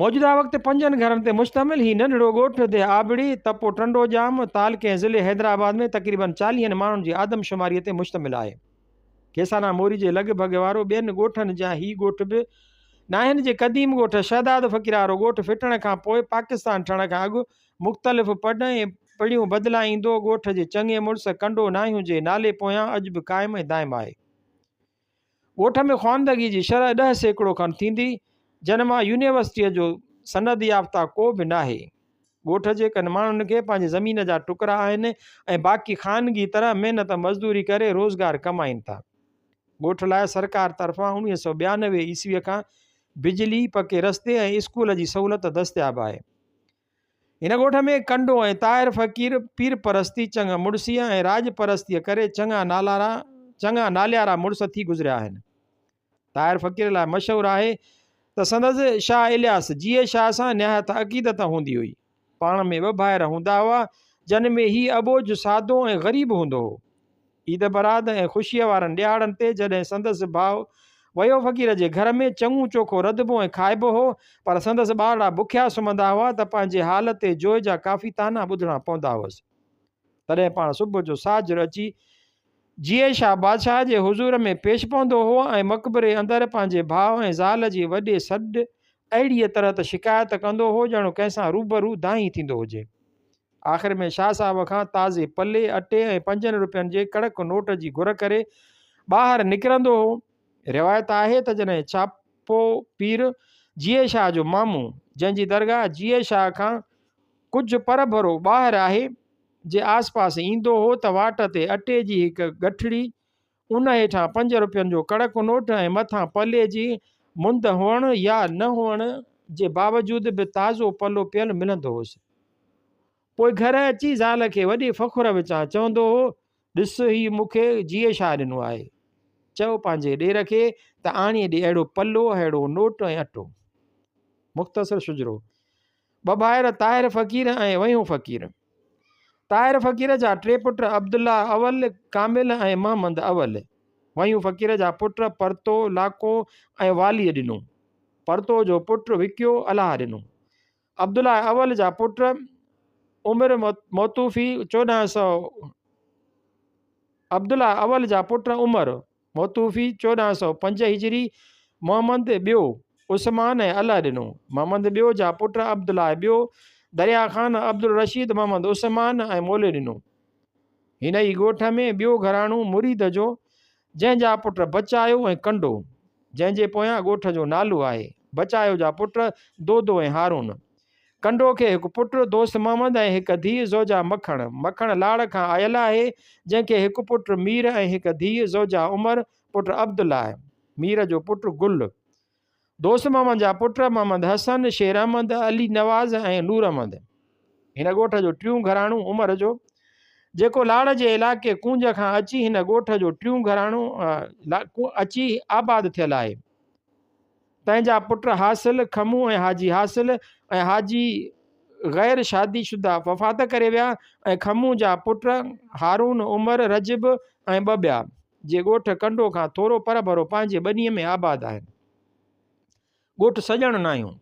موجوده وقت پنجن گهرن تي مشتمل هي ننڍڙو ڳوٺ ديهه آبڙي، تپو ٽنڊو ڄام، تعلقي ۽ ضلعي حيدرآباد ۾ تقريبن چاليهن ماڻهن جي آدمشماري تي مشتمل آهي. کيسانا موري جي لڳ ڀڳ وارو ٻين ڳوٺن جيان هي ڳوٺ به ناهن جي قديم ڳوٺ شهداد فقير وارو ڳوٺ ڦٽڻ کان پوء پاڪستان ٺھڻ کان اڳ مختلف پڙن ۽ پڙيون بدلائيندو ڳوٺ جي چڱي مڙس ڪنڊو ناهيون جي نالي پويان اڄ به قائم ۽ دائم آهي. ڳوٺ ۾ خواندگي جي شرح ڏهه سيڪڙو کن ٿيندي، جن مان يونيورسٽيء جو سند يافته ڪو به ناهي. ڳوٺ جي ڪن ماڻهن کي پنهنجي زمين جا ٽڪرا آهن ۽ باقي خانگي طرح محنت مزدوري ڪري روزگار ڪمائين ٿا. ڳوٺ لاء سرڪار طرفان اوڻويهه سؤ ٻيانوي عيسويء کان بجلي، پڪي رستي ۽ اسڪول جي سهولت دستياب آهي. هن ڳوٺ ۾ ڪنڊو ۽ طاهر فقير پير پرستي، چڱ مڙسيء ۽ راڄ پرستيء ڪري چڱا نالارا چڱا ناليارا مڙس ٿي گذريا آهن. طاهر فقير لاء مشهور آهي ته سندس شاهه الياس جيئي شاهه سان نهايت عقيدت هوندي هئي. پاڻ ۾ ٻه ڀائر هوندا هئا، جن ۾ هي اٻوجهه، سادو ۽ غريب هوندو هو. عيد برات ۽ خوشيء وارن ڏيهاڙن تي جڏهن سندس ڀاء ويو فقير جي گهر ۾ چڱو چوکو رڌبو ۽ کائبو هو، پر سندس ٻارڙا بکيا سمهندا هئا ته پنهنجي حال تي جوء جا ڪافي طعنا ٻڌڻا پوندا هئس. تڏهن پاڻ صبح جو ساجھر اچي جيئي شاهه بادشاهه جي حضور ۾ پيش پوندو هو ۽ مقبري اندر پنهنجي ڀاء ۽ زال جي وڏي سڏ اهڙيء طرح ته شڪايت ڪندو هو ڄڻ ڪنهن سان روبرو دانهين ٿيندو هجي. آخر ۾ شاهه صاحب کان تازي پلي اٽي ۽ پنجن روپين جي ڪڙڪ نوٽ جي گهر ڪري ٻاهر نڪرندو هو. روايت آهي ته جڏهن ڇاپو پير جيئي شاهه جو مامو، جنهن جي درگاهه جيئي شاهه کان ڪجهه پرڀرو ٻاهر آهي، جي آس پاس ايندو هو ته واٽ تي اٽي جي هڪ ڳٺڙي ان هيٺان پنج روپين جو ڪڙڪ نوٽ ۽ مٿان پلي جي مند هئڻ يا نه هئڻ جي باوجود به تازو پلو پيل ملندو هوس. پوء گهر اچي زال کي وڏي فخر وچان چوندو هو، ڏس هي مون کي جيئي شاهه ڏنو آهي. چئو پنهنجي ڏير کي ته آڻي ڏي اهڙو پلو، اهڙو نوٽ ۽ اٽو. مختصر شجرو. ٻه ڀائر طاهر فقير ۽ ويهون فقير. طاهر فقير جا ٽي پٽ عبدالله اول، ڪامل ۽ محمد اول. ويهون فقير جا پٽ پرتو، لاکو ۽ واليء ڏنو. پرتو جو پٽ وڪيو الهه ڏنو. عبدالله اول جا پٽ عمر موتوفي چوڏهن سؤ عبدالله اول جا پٽ عمر، موتوفي چوڏهن سؤ پنج هجري، محمد ٻيو، عثمان ۽ الله ڏنو. محمد ٻيو جا پٽ عبدالله ٻيو، دريا خان، عبدالرشيد محمد عثمان ۽ مولي ڏنو. هن ئي ڳوٺ ۾ ٻيو گهراڻو مريد جو، جنهن جا پٽ بچايو ۽ ڪنڊو، جنهن جي پويان ڳوٺ جو نالو آهي. بچايو جا پٽ دودو ۽ هارون. ڪنڊو کي هڪ پٽ دوست محمد ۽ هڪ ڌيء زوجا مکڻ، مکڻ لاڙ کان آيل آهي، جنهن کي هڪ پٽ مير ۽ هڪ ڌيء زوجا عمر پٽ عبدالله، مير جو پٽ گل، دوست محمد جا پٽ محمد حسن، شير احمد، علي نواز ۽ نور احمد. هن ڳوٺ جو ٽيون گهراڻو عمر جو جيڪو لاڙ جي علائقي ڪونج کان اچي هن ڳوٺ جو ٽيون گهراڻو اچي آباد ٿيل آهي. تنهنجا پٽ حاصل، کمون ۽ حاجي حاصل ۽ حاجي غير شادي شده وفات ڪري ويا ۽ کمون جا پٽ هارون، عمر، رجب ۽ ٻه ٻيا، جي ڳوٺ ڪنڊو کان ٿورو پر ڀرو پنهنجي ٻنيء ۾ آباد آهن. ڳوٺ سڄڻ ناهيون.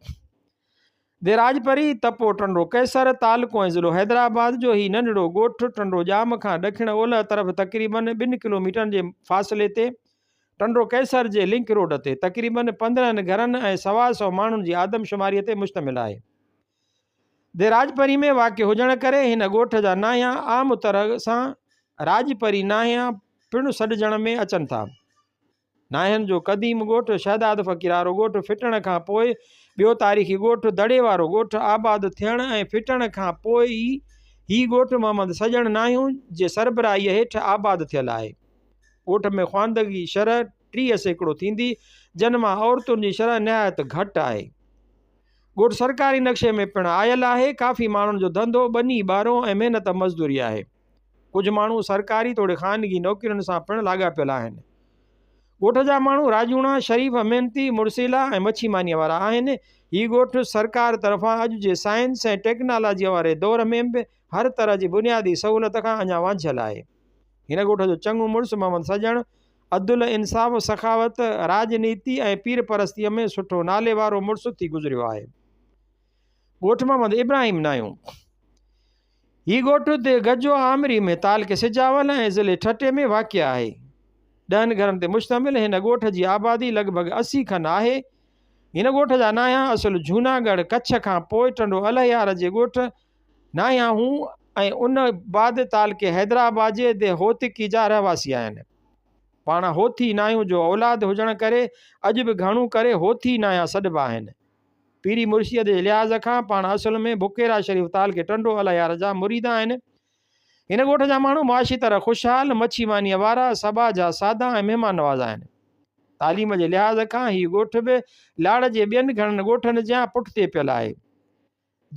ديراج پري، تپو ٽنڊو قيصر، تعلقو ۽ ضلعو حيدرآباد جو هي ننڍڙو ڳوٺ ٽنڊو ڄام کان ڏکڻ اولهه طرف تقريباً ٻن ڪلوميٽرن جي فاصلي تي ٽنڊو قيصر جي لنڪ روڊ تي تقريباً پندرهن گهرن ۽ سوا سؤ ماڻهن جي آدمشماريء تي مشتمل آهي. ديراج پري ۾ واقع هجڻ ڪري هن ڳوٺ جا نانهيا عام طرح سان راڄ پري نانهيا پڻ سڏجڻ ۾ اچن ٿا. ناهن جو قديم ڳوٺ شهداد فقير وارو ڳوٺ ڦٽڻ کان پوء ٻيو تاريخي ڳوٺ دڙي وارو ڳوٺ آباد ٿيڻ ۽ ڦٽڻ کان پوء ئي هي ڳوٺ محمد سڄڻ ناهيون جي سربراهيء هيٺ آباد ٿيل آهي. ڳوٺ ۾ خواندگي شرح ٽيهه سيڪڙو ٿيندي جن مان عورتن جي شرح نهايت گهٽ آهي. ڳوٺ سرڪاري نقشي ۾ پڻ آيل آهي. ڪافي ماڻهن جو ڌنڌو ٻني ٻارو ۽ محنت مزدوري آهي. ڪجهه ماڻهو سرڪاري توڙي خانگي نوڪرين سان پڻ لاڳاپيل آهن. ڳوٺ جا ماڻهو راڄوڻا، شريف، محنتي، مڙسيلا ۽ مڇي مانيء وارا آهن. هي ڳوٺ سرڪار طرفان اڄ جي سائنس ۽ ٽيڪنالاجيء واري دور ۾ به هر طرح جي بنيادي سهولت کان اڃا وانجهيل آهي. هن ڳوٺ جو چڱو مڙس محمد سڄڻ عدل، انصاف، سخاوت، راڄنيتي ۽ پير پرستيء ۾ سٺو نالي وارو مڙس ٿي گذريو آهي. ڳوٺ محمد ابراهيم نايون. هي ڳوٺ ديھ گجو آمري ۾ تعلقي سجاول ۽ ضلعي ٺٽي ۾ واقع آهي. ڏهن گهرن تي مشتمل هن ڳوٺ جي آبادي لڳ ڀڳ اسي کن آهي. هن ڳوٺ جا نانهان اصل جهوناڳڙهه ڪڇ کان پوء ٽنڊو الهيار جي ڳوٺ نانهان هون ۽ ان بعد تعلقي حيدرآباد جي ديھ هوتڪي جا رهواسي آهن. پاڻ هوٿي نانهيون جو اولاد هجڻ ڪري اڄ به گهڻو ڪري هوٿي نانهان سڏبا آهن. پيري مرشيء جي لحاظ کان پاڻ اصل ۾ بڪيرا شريف تعلقي ٽنڊو الهيار جا مريد آهن. هن ڳوٺ جا ماڻهو معاشي طرح خوشحال، مڇي مانيء وارا، سڀاء جا سادا ۽ مهمان نواز آهن. تعليم جي لحاظ کان هي ڳوٺ به لاڙ جي ٻين گهڻن ڳوٺن جيان پٺتي پيل آهي.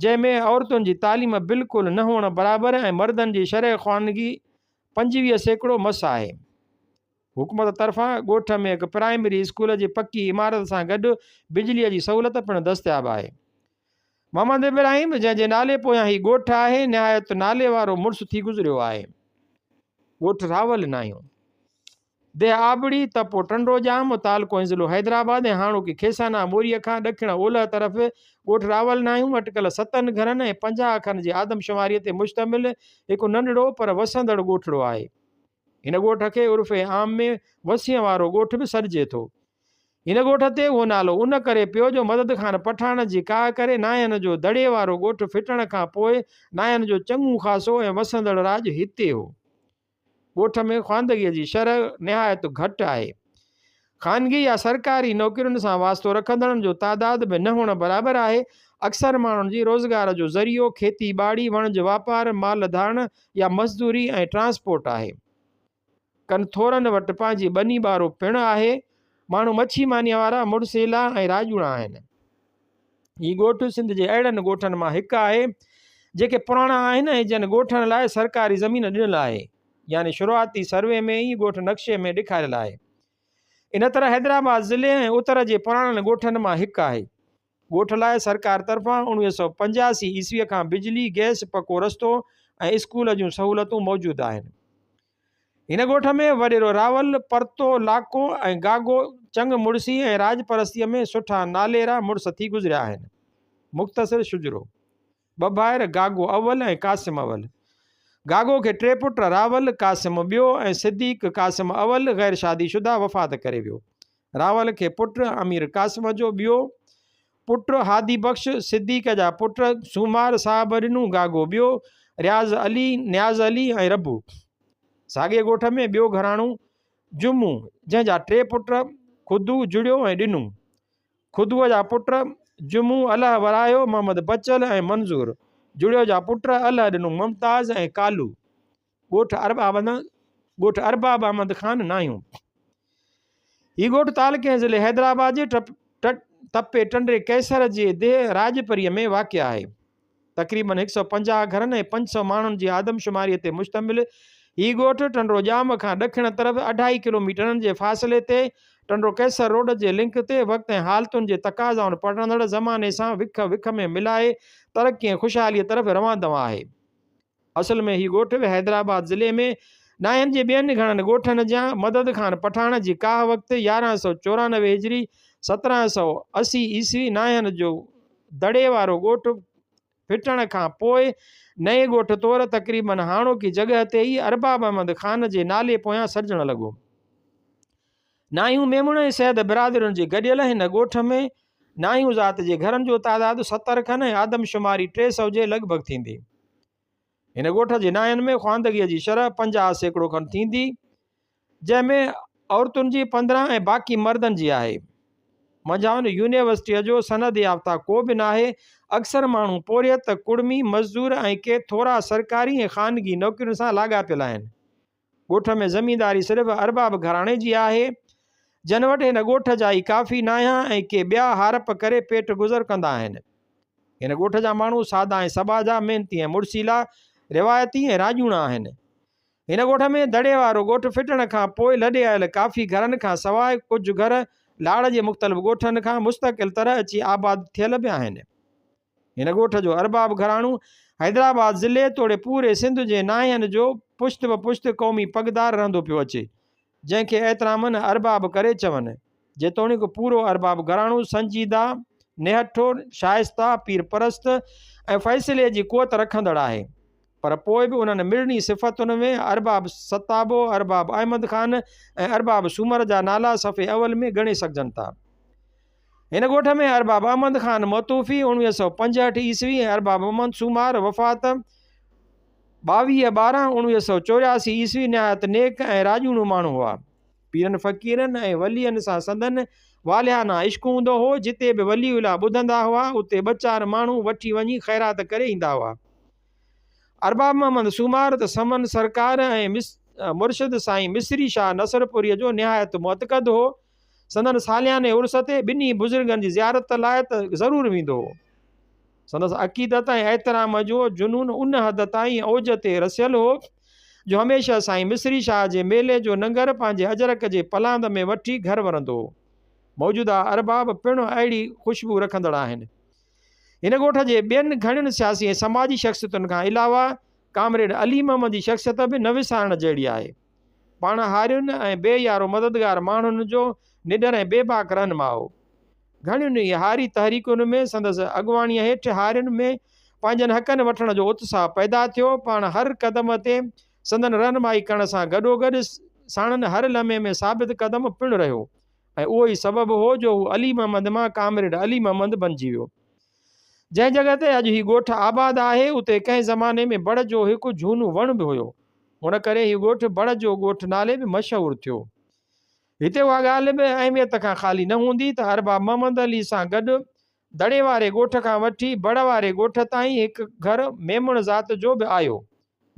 جنهن ۾ عورتن جي تعليم بلڪل نه هئڻ برابر ۽ مردن جي شرح خوانگي پنجويهه سيڪڙو مس آهي. حڪومت طرفان ڳوٺ ۾ هڪ پرائمري اسڪول جي پڪي عمارت سان گڏ بجليء جي سهولت پڻ دستياب آهي. محمد ابراهيم جنهن جي نالي پويان هي ڳوٺ آهي نهايت ناليوارو مڙس ٿي گذريو آهي. ڳوٺ راول ناهيون. ديهه آبڙي، تپو ٽنڊوڄام، متعلقو ضلعو حيدرآباد ۽ هاڻوڪي کيسانا ٻوريء کان ڏکڻ اولهه طرف ڳوٺ راول ناهيون اٽڪل ستن گهرن ۽ پنجاهه کن جي آدمشماريء تي مشتمل هڪ ننڍڙو پر وسندڙ ڳوٺڙو آهي. هن ڳوٺ کي عرف عام ۾ وسيء وارو ڳوٺ به سڏجي ٿو. هن ڳوٺ تي اهو نالو ان ڪري پيو جو مدد خان پٺاڻ جي ڪاهه ڪري ناهين جو دڙي وارو ڳوٺ ڦٽڻ کان پوء ناهين جو چڱو خاصو ۽ وسندڙ راڄ هتي هو. ڳوٺ ۾ خواندگيء جي شرح نهايت گهٽ آهي. خانگي يا سرڪاري نوڪرين سان واسطو رکندڙن جو تعداد به نه هئڻ برابر آهي. اڪثر ماڻهن جي روزگار جو ذريعو کيتي ٻاڙي، وڻج واپار، مال ڌاڻ يا مزدوري ۽ ٽرانسپورٽ آهي. ڪن ٿورن وٽ پنهنجي ٻني ٻارو پڻ آهي. ماڻهو مڇي مانيء وارا، مڙسيلا ۽ راڄوڻا آهن. هي ڳوٺ سنڌ جي اهڙن ڳوٺن مان هڪ آهي جيڪي پراڻا آهن ۽ جن ڳوٺن لاء سرڪاري زمين ڏنل آهي يعني شروعاتي سروي ۾ ئي ڳوٺ نقشي ۾ ڏيکاريل آهي ان طرح حيدرآباد ضلعي ۽ اتر جي پراڻن ڳوٺن مان هڪ آهي ڳوٺ لاء سرڪار طرفان اوڻويهه سؤ پنجاسي عيسوي کان بجلي گئس پڪو رستو ۽ اسڪول جون سهولتون موجود آهن هن ڳوٺ ۾ وڏيرو راول، پرتو، لاکو ۽ گاگو چڱ مڙسي ۽ راڄ پرستيء ۾ سٺا ناليرا مڙس ٿي گذريا آهن. مختصر شجرو، ٻه ڀائر گاگو اول ۽ قاسم اول. گاگو کي ٽي پٽ راول، قاسم ٻيو ۽ صديق، قاسم اول، غير شادي شده وفات ڪري ويو. راول کي پٽ امير قاسم جو ٻيو پٽ هادي بخش صديق جا پٽ سومار صاحب ڏنو گاگو ٻيو رياض علي نياز علي ۽ ربو ساڳئي ڳوٺ ۾ ٻيو گهراڻو جمو جنهن جا ٽي پٽ خدو جڙيو ۽ ڏنو خدوء جا پٽ جمو اله ورايو محمد بچل ۽ منظور جڙيو جا پٽ اله ڏنو ممتاز ۽ ڪالو ڳوٺ اربع احمد ڳوٺ اربع احمد خان ناهيون هي ڳوٺ تعلقي ۽ ضلع حيدرآباد جي ٽپ ٽٽ تپي ٽنڊي قيصر جي ديهه راڄپريء ۾ واقع آهي. تقريباً هڪ سؤ پنجاهه گهرن ۽ پنج سؤ ماڻهن جي آدمشماريء تي مشتمل هي ڳوٺ ٽنڊو ڄام کان ڏکڻ طرف اڍائي ڪلوميٽرن جي فاصلي تي ٽنڊو قيصر روڊ جي لنڪ تي وقت ۽ حالتن جي تقاضائن پڙهندڙ زماني سان وک وک ۾ ملائي ترقي ۽ خوشحاليء طرف روان دوان آهي. اصل ۾ هي ڳوٺ به حيدرآباد ضلعي ۾ ڏاهن جي ٻين گهڻن ڳوٺن جيان مدد خان پٺاڻ جي ڪاهه وقت يارهن سؤ چورانوي هجري سترهن سؤ اسي عيسوي ناهن جو دڙي وارو ڳوٺ ڦٽڻ کان پوء نئين ڳوٺ طور تقريبن هاڻوڪي جڳهه تي ئي ارباب احمد خان جي نالي پويان سڏجڻ لڳو. ناهيون ميمڻ ۽ سيد برادرين جي گڏيل هن ڳوٺ ۾ ناهيون ذات جي گهرن جو تعداد ستر کن ۽ آدمشماري ٽي سؤ جي لڳ ڀڳ ٿيندي. هن ڳوٺ جي ناهين ۾ خواندگيء جي شرح پنجاهه سيڪڙو کن ٿيندي، جنهن ۾ عورتن جي پندرهن ۽ باقي مردن جي آهي. منجهائن يونيورسٽيء جو سند يافته ڪو به ناهي. اڪثر ماڻهو پورهيت، ڪڙمي، مزدور ۽ ڪي ٿورا سرڪاري ۽ خانگي نوڪرين سان لاڳاپيل آهن. ڳوٺ ۾ زمينداري صرف ارباب گهراڻي جي آهي، جن وٽ هن ڳوٺ جا ئي ڪافي نانهيان ۽ ڪي ٻيا هارپ ڪري پيٽ گذر ڪندا آهن. هن ڳوٺ جا ماڻهو سادا ۽ سٻاجها، محنتي ۽ مڙسيلا، روايتي ۽ راڄوڻا آهن. هن ڳوٺ ۾ دڙي وارو ڳوٺ ڦٽڻ کان پوء لڏي آيل ڪافي گهرن کان سواء ڪجهه گهر لاڙ جي مختلف ڳوٺن کان مستقل طرح اچي آباد ٿيل به آهن. هن ڳوٺ جو ارباب گهراڻو حيدرآباد ضلعي توڙي پوري سنڌ جي ناهين جو پشت به پشت قومي پڳدار رهندو پيو اچي، جنهن کي احترامن ارباب ڪري چون. جيتوڻيڪ پورو ارباب گهراڻو سنجيده، نهٺو، شائسته، پير پرست ۽ فيصلي جي قوت رکندڙ آهي، پر پوء به انهن مڙني صفتن ۾ ارباب ستابو، ارباب احمد خان ۽ ارباب سومر جا نالا صفحي اول ۾ ڳڻي سگهجن ٿا. هن ڳوٺ ۾ ارباب احمد خان متوفي اوڻويهه سؤ پنجهٺ عيسوي ۽ ارباب احمد سومار، وفات، ٻاويهه ٻارهن اوڻويهه سؤ چورياسي عيسوي، نهايت نيڪ ۽ راڄوڻو ماڻهو هئا. پيرن فقيرن ۽ ولين سان سندن والهانه عشق هوندو هو. جتي به ولي الله ٻڌندا هئا، اتي ٻه چار ماڻهو وٺي وڃي خيرات ڪري ايندا هئا. ارباب محمد سومار ته سمن سرڪار ۽ مرشد سائين مصري شاهه نصرپوريء جو نهايت معتقد هو. سندن سالياني عرس تي ٻنهي بزرگن جي زيارت لاء ته ضرور ويندو هو. سندس عقيدت ۽ احترام جو جنون ان حد تائين اوج تي رسيل هو جو هميشه سائين مصري شاهه جي ميلي جو ننگر پنهنجي اجرڪ جي پلاند ۾ وٺي گهر ورندو هو. موجوده ارباب پڻ اهڙي خوشبو رکندڙ آهن. هن ڳوٺ جي ٻين گهڻين سياسي ۽ سماجي شخصيتن کان علاوه ڪامريڊ علي محمد جي شخصيت به نه وسارڻ جهڙي آهي. پاڻ هارين ۽ بي يارو مددگار ماڻهن جو نڊر ۽ بي باڪ رهنما هو. گهڻين ئي هاري تحريڪن ۾ سندس اڳواڻيء هيٺ هارين ۾ پنهنجن حقن وٺڻ جو اتساهه پيدا ٿيو. پاڻ هر قدم تي سندن رهنمائي ڪرڻ سان گڏوگڏ ساڻن هر لمحي ۾ ثابت قدم پڻ رهيو ۽ اهو ئي سبب هو جو هو علي محمد مان ڪامريڊ علي محمد بنجي ويو. جنهن جڳهه تي اڄ هي ڳوٺ آباد آهي، اتي ڪنهن زماني ۾ بڙ جو هڪ جهونو وڻ به هيو. ان ڪري هي ڳوٺ بڙ جو ڳوٺ نالي به مشهور ٿيو. هتي اها ڳالهه به اهميت کان خالي نه هوندي ته ارباب محمد علي سان گڏ دڙي واري ڳوٺ کان وٺي بڙ واري ڳوٺ تائين هڪ گهر ميمڻ ذات جو به آيو.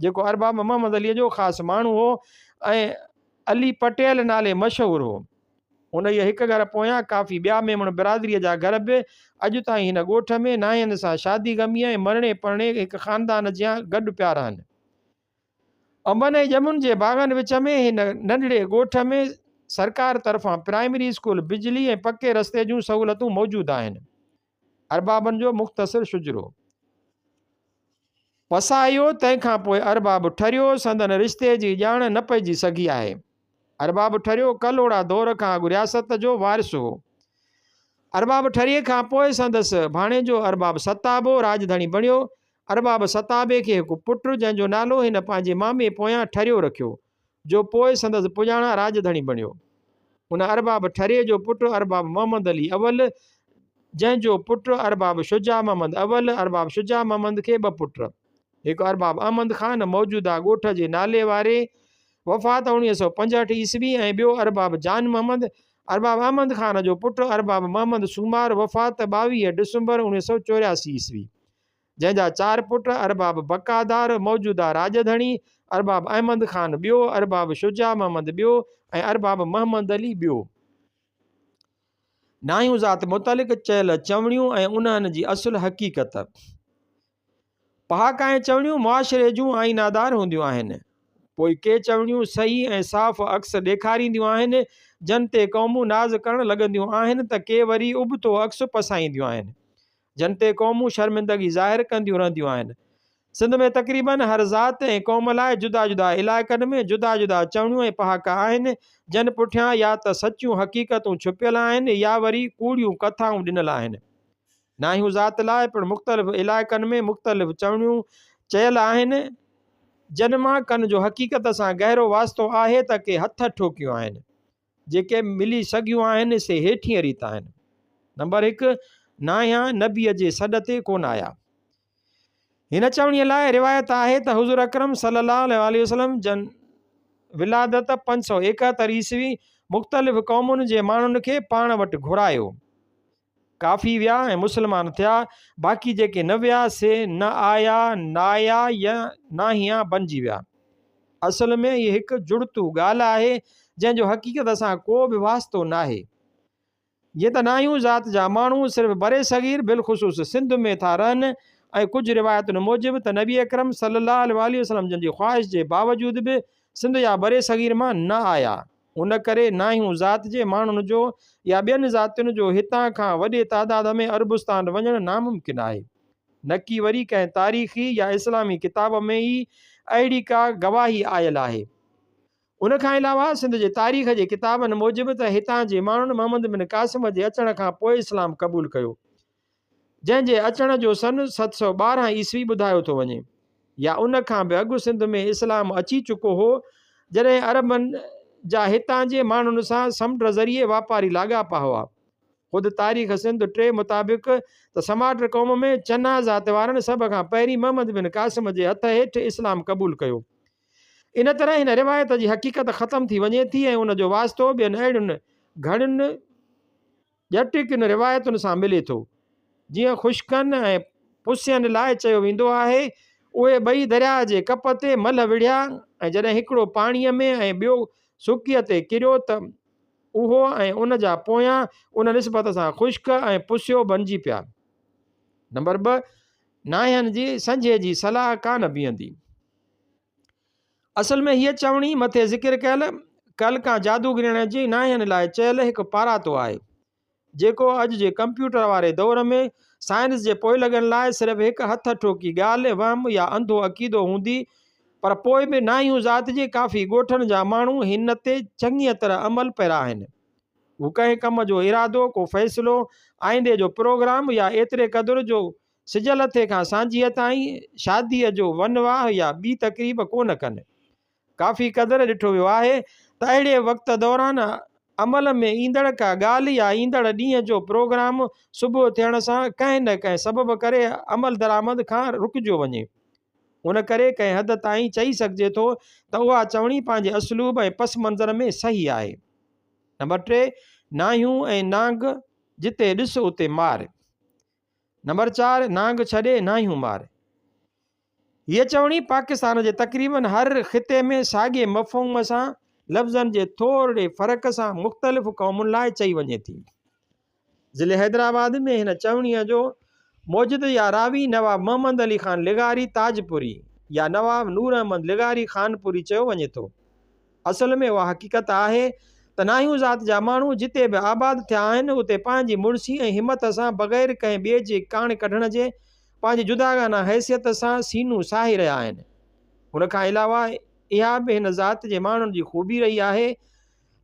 جيڪو ارباب محمد عليء جو خاص ماڻهو هو ۽ علي پٽيل نالي مشهور هو. انهيء هڪ گهر پويان ڪافي ٻيا ميمڻ برادريء جا گهر به اڄ تائين هن ڳوٺ ۾ نانهن سان شادي غميء ۽ مرڻي پرڻي هڪ خاندان جيان گڏ پيا رهن. انبن ۽ ڄمن جي باغن وچ ۾ هن ننڍڙي ڳوٺ ۾ سرڪار طرفان پرائمري اسڪول، بجلي ۽ پڪي رستي جون سهولتون موجود آهن. اربابن جو مختصر شجرو. وسايو، تنهن کان پوء ارباب ٺريو سندن رشتي جي ڄاڻ نه پئجي سگهي آهي. ارباب ٺريو ڪلهوڙا دور کان اڳ رياست جو وارث هو. ارباب ٺريي کان پوء سندس ڀاڻيجو ارباب ستابو راڄڌڻي بڻيو. ارباب ستابي کي هڪ پٽ جنهن جو نالو هن پنهنجي مامي پويان ٺريو رکيو. جو پوء سندس پڄاڻان راڄ ڌڻي بڻيو. ان ارباب ٺري جو پٽ ارباب محمد علي اول، جنهن جو پٽ ارباب شجاع محمد اول، ارباب شجاع محمد کي ٻه پٽ، هڪ ارباب احمد خان موجوده ڳوٺ جي نالي واري، وفات اوڻيهه سؤ پنجهٺ عيسوي، ۽ ٻيو ارباب جان محمد، ارباب احمد خان جو پٽ ارباب محمد سومار، وفات ٻاويهه ڊسمبر اوڻيهه سؤ چورياسي عيسوي. جنهن جا چار پٽ ارباب بقادار، موجوده راڄ ڌڻي، ارباب احمد خان ٻيو، ارباب شجاع محمد ٻيو ۽ ارباب محمد علي ٻيو. ناهيون ذات متعلق چيل چوڻيون ۽ انهن جي اصل حقيقت. پهاڪ ۽ چوڻيون معاشري جون آئينادار هونديون آهن. پوء ڪي چوڻيون صحيح ۽ صاف عڪس ڏيکارينديون آهن، جن تي قومون ناز ڪرڻ لڳنديون آهن ته ڪي وري ابتو عڪس پسائينديون آهن. جن تي قومون شرمندگي ظاهر ڪنديون رهنديون آهن. سنڌ ۾ تقريبن هر ذات ۽ قوم لاء جدا جدا علائقن ۾ جدا جدا چوڻيون ۽ پهاڪا آهن، جن پٺيان يا ته سچيون حقيقتون ڇپيل آهن يا وري ڪوڙيون ڪٿائون ڏنل آهن. ناهيون ذات لاء پڻ مختلف علائقن ۾ مختلف چوڻيون چيل آهن، جن مان ڪن جو حقيقت سان گهرو واسطو آهي ته ڪي هٿ ٺوڪيون آهن. جيڪي ملي سگهيون آهن سي هيٺينء ريت آهن، نمبر هڪ، ناهيا نبيء جي سڏ تي ڪونه آيا. هن چوڻيء لاء روايت آهي ته حضور اڪرم صلي الله عليه وسلم جن ولادت پنج سؤ ايڪهتر عيسوي مختلف قومن جي ماڻهن کي پاڻ وٽ گهرايو. ڪافي ويا ۽ مسلمان ٿيا، باقي جيڪي نه ويا سي نه آيا، نايا يا ناهيا بنجي ويا. اصل ۾ هيء هڪ جڙتو ڳالهه آهي، جنهن جو حقيقت سان ڪو به واسطو ناهي. جيئن ته ناهيون ذات جا ماڻهو صرف برصغير بالخصوص سنڌ ۾ ٿا رهن ۽ ڪجهه روايتن موجب ته نبي اڪرم صلّي اللّٰه عليه واٰله وسلّم جن جي خواهش جي باوجود به سنڌ يا برصغير مان نه آيا، ان ڪري نه هن ذات جي ماڻهن جو يا ٻين ذاتين جو هتان کان وڏي تعداد ۾ عربستان وڃڻ ناممڪن آهي. نڪي وري ڪنهن تاريخي يا اسلامي ڪتاب ۾ ئي اهڙي ڪا گواهي آيل آهي. ان کان علاوه سنڌ جي تاريخ جي ڪتابن موجب ته هتان جي ماڻهن محمد بن قاسم جي اچڻ کان پوء اسلام قبول ڪيو. جنهن جي اچڻ جو سن ست سؤ ٻارهن عيسوي ٻڌايو ٿو وڃي يا ان کان به اڳ سنڌ ۾ اسلام اچي چڪو هو جڏهن عربن جا هتان جي ماڻهن سان سمنڊ ذريعي واپاري لاڳاپا هئا. خود تاريخ سنڌ ٽي مطابق ته سماٽ قوم ۾ چنا ذات وارن سڀ کان پهرين محمد بن قاسم جي هٿ هيٺ اسلام قبول ڪيو. ان طرح هن روايت جي حقيقت ختم ٿي وڃي ٿي ۽ ان جو واسطو ٻين اهڙين گهڻين ڄٽ ڪن روايتن سان ملي ٿو. جيئن خشڪن ۽ پسين لاء چيو ويندو آهي، اهي ٻئي درياء جي ڪپ تي ملهه وڙهيا ۽ جڏهن هڪڙو پاڻيء ۾ ۽ ٻيو سڪيء تي ڪريو ته اهو ۽ ان جا پويان ان نسبت سان خشڪ ۽ پسيو بنجي پيا. نمبر ٻه، ناهين جي سنجهي جي صلاح ڪانه بيهندي. اصل ۾ هيء چوڻي مٿي ذڪر ڪيل ڪل کان جادوگرڻ جي ناهين لاء چيل هڪ پاراتو آهي، جيڪو اڄ جي ڪمپيوٽر واري دور ۾ سائنس جي پوئلڳن لاء صرف هڪ هٿ ٺوڪي ڳالهه، وهم يا انڌو عقيدو هوندي، پر پوء به ناهيون ذات جي ڪافي ڳوٺن جا ماڻهو هن تي چڱيء طرح عمل پيرا آهن. هو ڪنهن ڪم جو ارادو، ڪو فيصلو، آئيندي جو پروگرام يا ايتري قدر جو سج لٿي کان سانجهيء تائين شاديء جو ون واهه يا ٻي تقريب ڪونه ڪن. ڪافي قدر ڏٺو ويو آهي ته اهڙي وقت دوران عمل ۾ ايندڙ ڪا ڳالهه يا ايندڙ ڏينهن جو پروگرام صبح ٿيڻ سان ڪنهن نه ڪنهن سبب ڪري عملدرآمد کان رڪجيو وڃي. ان ڪري ڪنهن حد تائين چئي سگهجي ٿو ته اها چوڻي پنهنجي اسلوب ۽ پس منظر ۾ صحيح آهي. نمبر ٽي، ناهيون ۽ نانگ جتي ڏس اتي مار. نمبر چار نانگ ڇڏي ناهيون مار هيء چوڻي پاڪستان جي تقريبن هر خطي ۾ ساڳئي مفهوم سان لفظن جي ٿورڙي فرق سان مختلف قومن لاء چئي وڃي ٿي. ضلع حيدرآباد ۾ هن چوڻيء جو موجد يا راوي نواب محمد علي خان لغاري تاجپوري يا نواب نور احمد لغاري خانپوري چيو وڃي ٿو. اصل ۾ اها حقيقت آهي ته ناهيون ذات جا ماڻهو جتي به آباد ٿيا آهن اتي پنهنجي مڙسي ۽ همت سان بغير ڪنهن ٻئي جي ڪاڻ ڪڍڻ جي پنهنجي جداگانه حيثيت سان سينو ساهي رهيا آهن. ان کان علاوه اها به هن ذات جي ماڻهن جي خوبي رهي آهي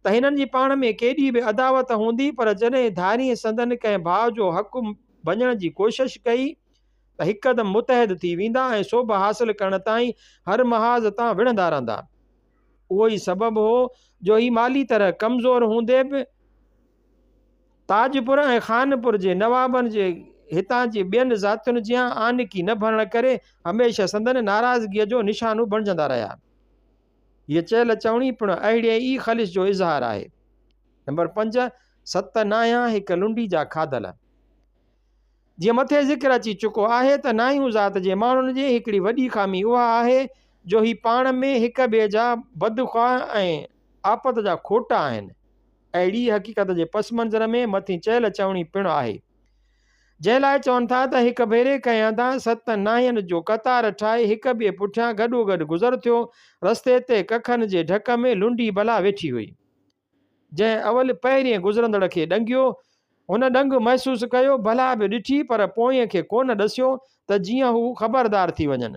ته هنن جي پاڻ ۾ ڪيڏي به عداوت هوندي پر جڏهن ڌارين سندن ڪنهن ڀاء جو حق ڀڃڻ جي ڪوشش ڪئي ته هڪدم متحد ٿي ويندا ۽ سوڀ حاصل ڪرڻ تائين هر محاذ تان وڙهندا رهندا. اهو ئي سبب هو جو هي مالي طرح ڪمزور هوندي به تاجپور ۽ خانپور جي نوابن جي هتان جي ٻين ذاتين جيان آنڪي نه ڀرڻ ڪري هميشه سندن ناراضگيء جو نشانو بڻجندا رهيا. هيء چيل چوڻي پڻ اهڙيء ئي خلش جو اظهار آهي. نمبر پنج، ست نانهيان هڪ لنڊي جا کاڌل. جيئن مٿي ذڪر اچي چڪو آهي ته ناهيون ذات جي ماڻهن جي هڪڙي وڏي خامي اها آهي جو هي پاڻ ۾ هڪ ٻئي جا بدخواه ۽ آپت جا کوٽا آهن. اهڙيء حقيقت جي پس منظر ۾ مٿين چيل چوڻي پڻ آهي. جنهن لاء چون ٿا ته هڪ ڀيري ڪنهن هنڌان ست ناهين جو قطار ٺاهي هڪ ٻئي پٺيان گڏوگڏ گذر ٿيو، رستي تي ڪکن جي ڍڪ ۾ لنڊي بلا ويٺي هئي. جنهن اول پهرين گذرندڙ کي ڏنگيو، هن ڏنگ محسوس ڪيو، بلا به ڏٺي پر پوئين کي ڪونه ڏسيو ته جيئن هو خبردار ٿي وڃن.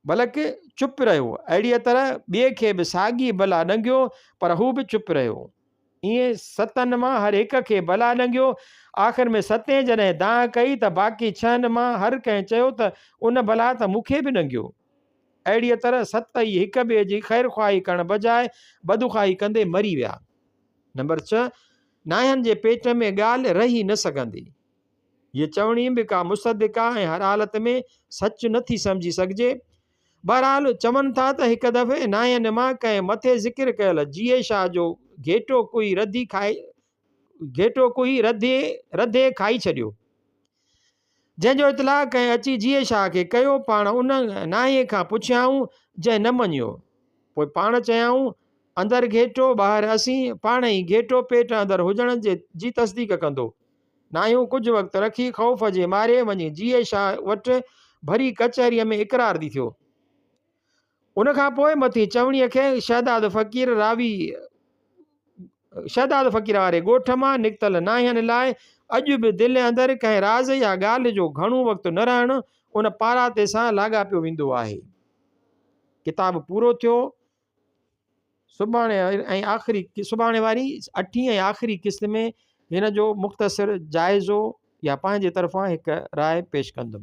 بلڪ چپ رهيو. اهڙيء طرح ٻئي کي به ساڳي بلا ڏنگيو پر هو به چپ رهيو. ايئن ستن مان هر هڪ کي بلا ڏنگيو. آخر ۾ ستين جڏهن دانهن ڪئي ته باقي ڇهن مان هر ڪنهن چيو ته ان بلا ته مون کي به ڏنگيو. اهڙيء طرح ست ئي هڪ ٻئي جي خيرخواهي ڪرڻ بجاء بدخواهي ڪندي مري ويا. نمبر ڇهه، ناهن جي پيٽ ۾ ڳالهه رهي نه سگهندي. هيء چوڻي به ڪا مصدقه ۽ هر حالت ۾ سچ نه ٿي سمجهي سگهجي. بهرحال، چون ٿا ته هڪ دفعي ناهن مان ڪنهن مٿي ذڪر ڪيل جيئي شاهه جو گهيٽو ڪوئي رڌي کائي گهيٽو ڪوئي رڌي رڌي کائي ڇڏيو. جنهن جو اطلاع ڪنهن اچي جيئي شاهه کي ڪيو، پاڻ ان ناهيء کان پڇيائون، جنهن نه مڃيو. پوء پاڻ چيائون، اندر گهيٽو، ٻاهر اسين، پاڻ هي گهيٽو پيٽ اندر هجڻ جي تصديق ڪندو. ناهيون ڪجهه وقت رکي خوف جي ماري وڃي جيئي شاهه وٽ ڀري ڪچهريء ۾ اقرار ڏي ٿيو. ان کان پوء مٿين چوڻيء کي شهداد فقير راوي شهداد فقير واري ڳوٺ مان نڪتل ناهين لاء اڄ به دل اندر ڪنهن راز يا ڳالهه جو گهڻو وقت نه رهڻ ان پاراٿي سان لاڳاپيو ويندو آهي. ڪتاب پورو ٿيو. سڀاڻي ۽ آخري سڀاڻي واري اٺين ۽ آخري قسط ۾ هن جو مختصر جائزو يا پنهنجي طرفان هڪ راء پيش ڪندم.